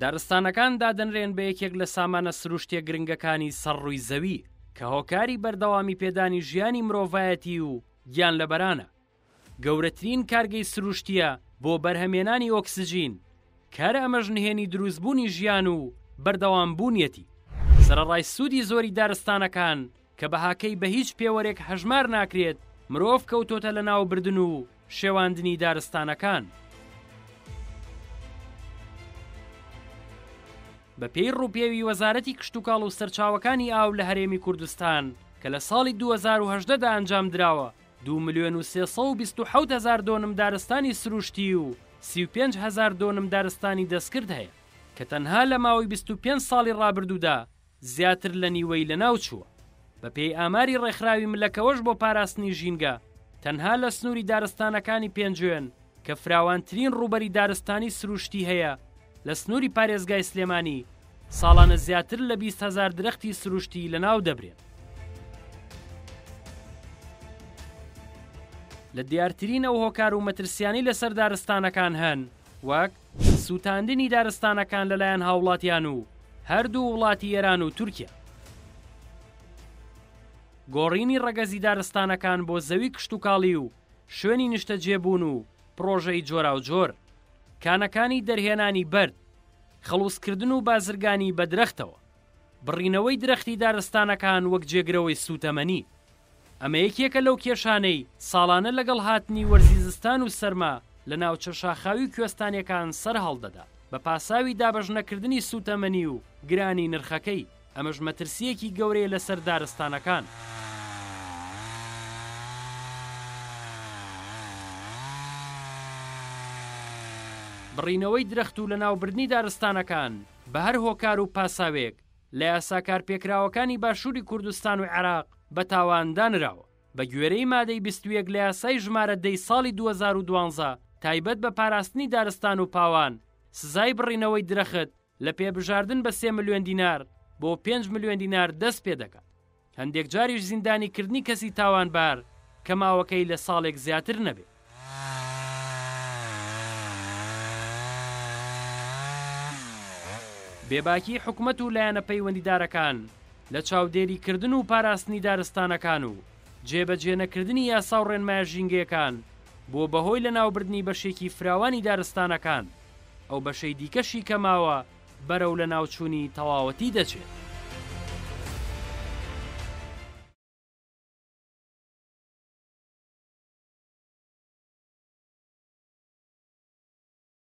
دارستانەکان دادەنرێن بە یەکێک لە سامانە سروشتیە گرنگەکانی سەر ڕووی زەوی کە هۆکاری بەردەوامی پێدانی ژیانی مرۆڤایەتی و گیان لەبەرانە گەورەترین کارگەی سروشتیە بۆ بەرهەمێنانی ئۆکسسیجین کار ئەمەش نهێنی دروستبوونی ژیان و بەردەوام بوونیەتی سەرڕای سوودی زۆری دارستانەکان کە بەهاکەی بە هیچ پێوەرێک هەژمار ناکرێت، مرۆڤ کەوتۆتە لەناوبردن و شێواندنی دارستانەکان. بە پێی ڕووپێوی وەزارەتی کشتوکاڵ و سەرچاوەکانی ئاو لە هەرێمی کوردستان کە لە ساڵی دوو هەزار و هەژدە دا ئەنجام دراوە، دوو ملیۆن و سێ سەد و بیست و حەوت هەزار دۆنم دارستانی سروشتی و سی و پێنج هەزار دۆنم دارستانی دەستکرد هەیە، کە تەنها لە ماوەی بیست و پێنج ساڵی ڕابردوودا، زیاتر لە نیوەی لەناوچووە. بەپێی ئاماری ڕێکخراوی ملەکەوەش بۆ پاراستنی ژینگە، تەنها لە سنووری دارستانەکانی پێنجوێن کە فراوانترین ڕووبەری دارستانی سروشتی هەیە لە سنووری پارێزگای سلێمانی، ساڵانە زیاتر لە بیست هەزار درەختی سروشتی لەناودەبرێن. لە دیارترین ئەو هۆکار و مەترسیانەی لەسەر دارستانەکان هەن وەک. سوتاندنی دارستانەکان لەلایەن هاوڵاتیان و هەردوو وڵاتی ئێران و تورکیا. گۆڕینی ڕەگەزی دارستانەکان بۆ زەوی کشتوکاڵی و شوێنی نیشتەجێبوون و پڕۆژەی جۆراوجۆر. کانەکانی دەرهێنانی بەرد. خەڵوزکردن و بازرگانی بە درەختەوە. بڕینەوەی درەختی دارستانەکان وەک جێگرەوەی سووتەمەنی، ئەمە یەکێکە لەو کێشانەی ساڵانە لەگەڵ هاتنی وەرزی زستان و سەرما لە ناوچە شاخاوی و کوێستانیەکان سەرهەڵدەدا بە پاساوی دابەشنەکردنی سووتەمەنی و گرانی نرخەکەی، ئەمەش مەترسییەکی گەورەیە لەسەر دارستانەکان. بڕینەوەی درەخت و لەناوبردنی دارستانەکان بە هەر هۆکار و پاساوێک لە یاسا کارپێکراوەکانی باشووری کوردستان و عێراق بە تاوان دانراوە. بە گوێرەی مادەی بیست و یەک لە یاسای ژمارە دە ی ساڵی دوو هەزار و دوازدە تایبەت بە پاراستنی دارستان و پاوان، سزای بڕینەوەی درەخت لە پێ بژاردن بە سێ ملیۆن دینار بۆ پێنج ملیۆن دینار دەست پێ دەکات. هەندێک جاریش زیندانیکردنی کەسی تاوانبار کە ماوەکەی لە ساڵێک زیاتر نەبێ. بێباکیی حکومەت و لایەنە پەیوەندیدارەکان لە چاودێریکردن و پاراستنی دارستانەکان و جێبەجێنەکردنی یاسا و ڕێنمایە ژینگەیەکان بووە بە هۆی لەناوبردنی بەشێکی فراوانی دارستانەکان، ئەو بەشەی دیکەشی کە ماوە، بەرەو لەناوچوونی تەواوەتی دەچێت.